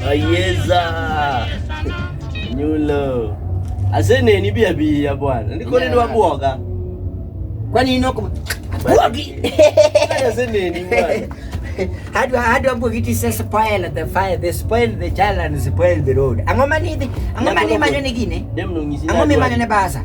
Ayeza nyulo ase neni bia bia bwana ndiko nini wabwoga kwani inoko bwogi ase neni bwana how do how do I put it says spoil the fire they spoil the child and spoil the road angoma nini angoma ni manyo nigine dem no ngisi angoma manyo ne basa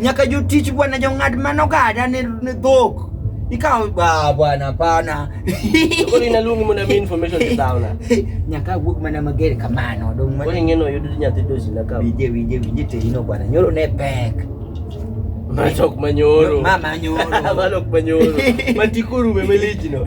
Nyaka jotich bwana jong'ad mano gada ne dhok ikawo ba bwana hapana koni naluongi mondo mi information ni sauna nyaka wuog mana mager kamano dong mana koni ngeno yudo nyathi dosi na ka wije wije wije te ino bwana nyoro ne pek Masok manyoro. Mama nyoro. Masok manyoro. Matikuru memelichino.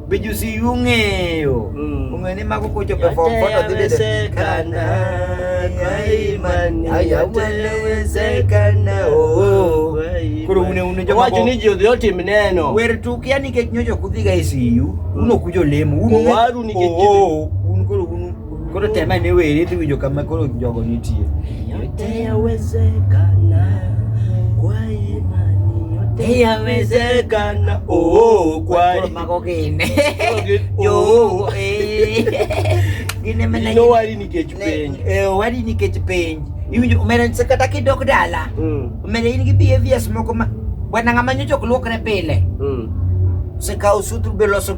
Bijusi yung'eyo mm. ung'eyo ni mago kochopo e form four to dhi bedo kana kwa imani yawezekana oh. koro une une joma wacho ni ji odhi otim neno wer tuk ya nikech nyocha ok udhiga e siyu un ok ujo lemo un waru nikech oh, oh, oh. un koro un Koro tem ane weri dhi winjo kama koro jogo nitie. Yote yawezekana kwa imani, yote yawezekana. Oh, kwa Koro mago gine. Jogo eh. Gine mana. No wari nikech penj. Eh, wari nikech penj. Iwinjo omera nse kata kidok dala. Mm. Omera in gi behaviors moko ma bwana ng'ama nyocha ok luokre pile. Mm. Sekawo sutru be loso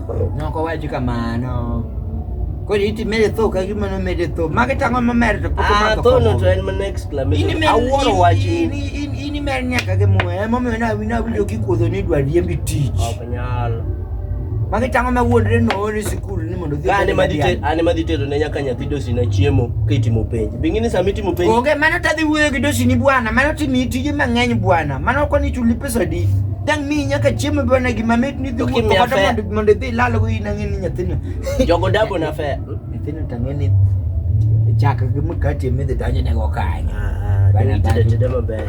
Noko wacho kamano. Koro iti mede tho ka gima no mede tho. Mage tango ma mede to kuto Ah, mato. tho no to en mana exclamation. Ini mede Awuoro wach in. ini ini ini mede nyaka ke muwe. Ema miyo na wina winjo kikuodho ni dwa riembi tich. Ok nyal. Mage tango ma wuodre no ori sikul ni mondo dhi. Kane madhi te- ane madhi tero ne nyaka nyathi dosina chiemo kitimo penj. Bingi ni sama itimo penj Onge mano tadhi wuoyo gi dosini bwana. Mano timi tije mang'eny bwana. Mano koni chuli pesa di dang mi nyaka chiemo be ne gima mit ni dhi To kim wuotho kata nyafe. mondo- mondo idhi ilal go in ang'e ni nyathino Jogo dago na fe. nyathino to ang'e ni chak gi mkate midhi donjo nego kanyo Ah, Bana deni tede dago. tede maber.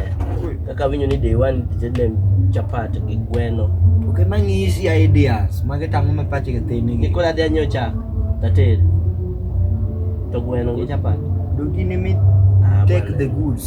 Kaka winyo ni day one tede chapat gi gweno. ok emang'isi ideas magi tang'o ma pach githini gi Nikula dhi anyo chak tated. To gweno gi chapat. dogini mi Ah, take bana. the goods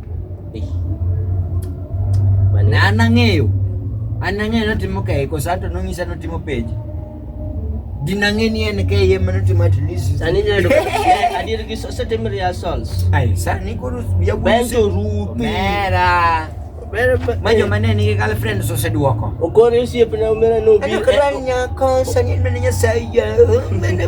Eh. Na anang'eyo. Anang'eyo notimo kae koso ato nong'isa notimo penjo. Dinang'eni en kae yie mano timo at least. Sani neno adier gi setem rehearsals. Ai sani koro ya Benjo rupi. Mera. Ma joma ne nigi girlfriends oseduoko. Okore osiepna omera nobiro. Anakora nyako sani nene nyasaye. Mene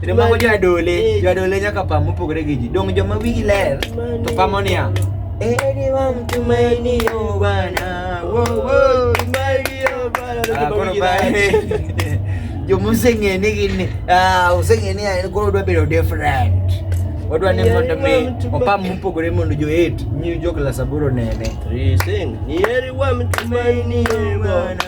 Kendo mago jo adole, jo adole nyaka pam mopogore gi ji. Dong joma wigi ler to pamo niya. Eri wa mtumaini yo Bwana. Wo wo, mali yo Bwana. Ah, kono ba. Jo museng'e ni gin ni, ah, useng'e ni en koro dwa bedo different. Wadwa ni mondo mi opam mopogore mondo jo eight nyi jo klas aboro nene. Rising. Eri wa mtumaini yo Bwana.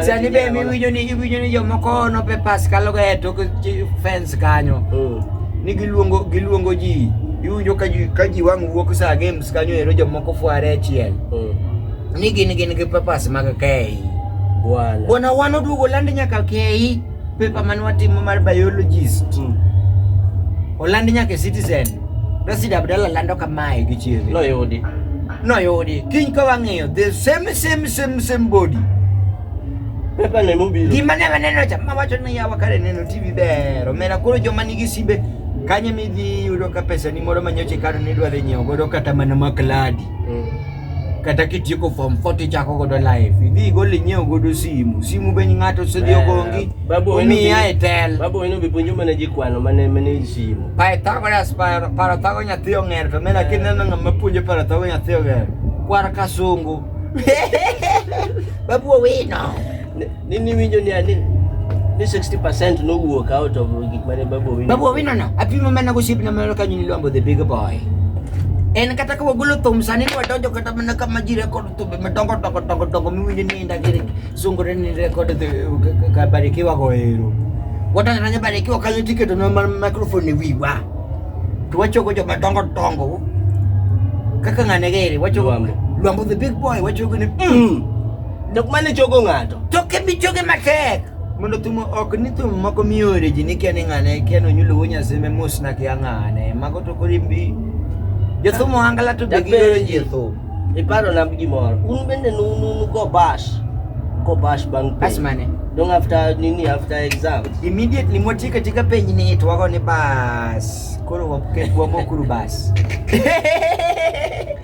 Sani be miwinjo ni iwinjo ni jomoko nope pas kaloga e tok chi- fence kanyo Mm. ni giluongo giluongo ji iwinjo ka ji ka ji wang' wuok saa games kanyo ero jomoko fware achiel Mm. ni gin gin gi pepas mag kei Bwana. bwana wan oduogo land nyaka kei Pepa man watimo mar biologist. Mm. Oland nyaka e Citizen. Rashid Abdalla lando kamae gi chiege. Noyudi. Noyudi. Kiny ka wang'iyo the same same same same body. Pepa ne mobiro. Gima ne waneno cha ma wacho ni yawa kare neno TV ber. Omera koro joma nigi simbe kanye midhi yudo ka pesa ni moro manyoche karo ni dwa dhi nyiewo godo kata mana makladi. Mm. kata kitieko form 4 tichako godo life idhi igol inyiew godo simu simu be ng'ato osedhi ogongi umiya e tel babo eno be puonjo mana ji kwano mane mane simu Pythagoras parathago nyathi ong'er to mena kineno ng'ama puonjo parathago nyathi ong'er kwar kasungu babu owino Nini winjo ni ani? Ni 60% no wuok out of gik mane Babu Owino. Babu Owino no, apimo mana gosip na mano kanyo ni Lwambo the big boy. En kata ka wagolo thum sani ni wadonjo kata mana ka ma ji rekod thumbe madongo dongo dongo dongo miwinjo ni inda gi sungore ni rekod ka Barikiwa go ero. Wadonjo na Barikiwa kanyo tiketo na microphone e wiwa. To wachogo joma dongo dongo kaka ng'ane gere wachogo Lwambo the big boy wachogo ni mm. mm. Dok mane chogo ng'ato. Toke bi choge matek. Mondo thum ok ni thum moko miore ji ni kia ni ng'ane kia ni onyulo wuo nyasimbe mos na kia ng'ane. Mago to koro in bi. Jothum ohangala to be Dapenji. gioro ji e thum. Iparo na gimoro. Un bende nu nu nu go bash. Go bash bang piny. Bas mane? Dong after nini after exams. Immediately mwatieka tika penj ni to wago ni bas. Koro waket wamokuru bas.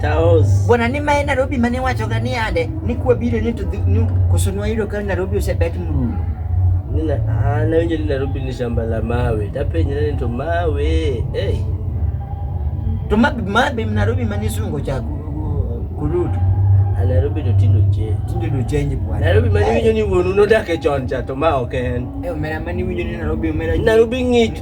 Taos. Bwana ni mae Nairobi mane wacho ga ni ade ni kwa biro ni to dhi- ni koso nwayudo ka Nairobi osebet mrumo. Nina ah, nawinjo ni Nairobi ni shamba la mawe. Tapenjra ni to mawe. Hey. To mabe mabe Nairobi mane sungo cha ku- kurutu. A Nairobi to tindo che. Tinde do change bwana. Nairobi mane winjo ni wuonu nodak e chon cha to ma ok en. Eh, omera mane winjo ni Nairobi omera. Nairobi ng'ich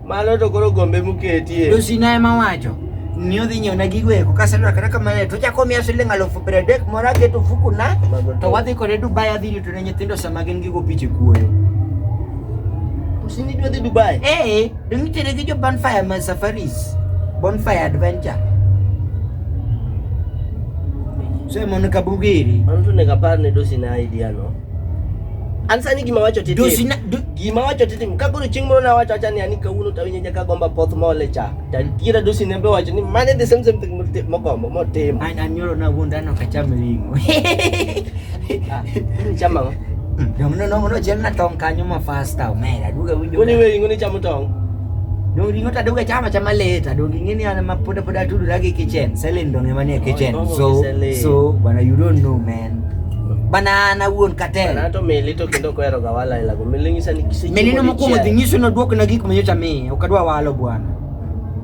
Mano to koro gombe muketie. To sina ema wacho ni odhi nyiewna gigo eko kaselwakra kamane to chako miya siling' alufu piero adek moro aketo ofukuna to wadhi kode Dubai adhi rito ne nyithindo sama gin gigo piche kuoyo. Usini dwadhi Dubai? Eh, dong itere gi jo Bonfire ma Safaris. Bonfire Adventure. So mondo kabugiri. Mano to nego apar ne dosi na idea no. An sani gima wacho tete. Dosina do, gima wacho tete ka koro chieng' moro nawacho acha ni ani kawuono tawinjo nyaka gomba poth mole cha. Tatiera dosi ne be wacho ni mane the same same thing mogombo motimo. An anyoro na wuonda no kacham ring'o. Ah, chama ngo. Dong no no no chiel na tong kanyo ma fasta omera duga winjo. Kuni we ringo ni chamo tong. Dong ringo ta duga chama chama leta dong ingeni ana ma poda poda tudu lagi kitchen. Selin dong emane kitchen. So so bana you don't know man. banana wuon katela to meli to kendo kohero ga wala ila go meli ngisa ni kisi meli no mokuongo dhi nyiso no duok na gik ma nyocha miye ok adwa walo bwana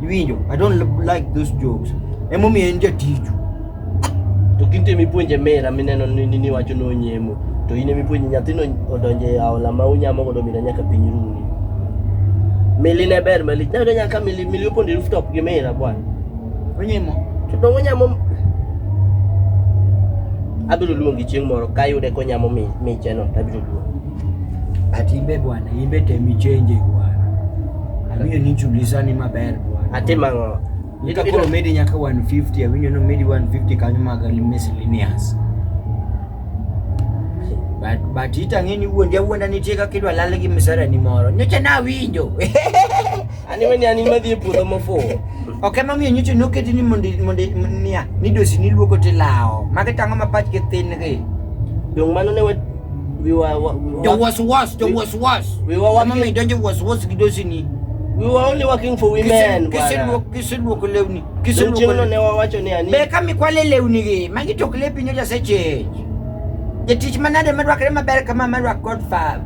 iwinjo i don't like those jokes emo mi en jatiju to kinte mi puonje mera mineno ni ni wacho no nyemo to ine mi puonje nyathino odonje aola ma unyamo godo mina nyaka piny runi meli ne ber meli nyaka meli meli opondi rooftop gi mera bwana Onye mo. To dongo nyamo abiro luongi chieng' moro ka yude konyamo micheno to abiro luongi. But imbe bwana, imbe tem ichenje bwana. Awinjo ni chulisani maber bwana. Atim ang'o? Nika koro medi nyaka 150, awinjo ni medi 150 kanyo mag miscellaneous. But but itang'e ni wuondi awuonda nitie kaka idwa lal gi misara ni moro. Nyocha nawinjo. An iwe ni an in madhi e puodho mofuwo. Ok ema miyo nyocha noketi ni mondo mondo niya ni dosi ni luoko tilawo. Magi tang'o ma pachgi thin gi. Dong mano ne wa we were wa- we were- Jo was was, jo was was. We were Ema miyo donjo was was gi dosi ni. we were only working for women. bwana. Kiseluoko kiseluoko lewni. Dong Kiseluoko chieng'no lewni. ne wawacho ni ani Be ka mikwale lewni gi, magi tok lepi nyocha seche. Jatich manade madwakre maber kama madwak Godfather.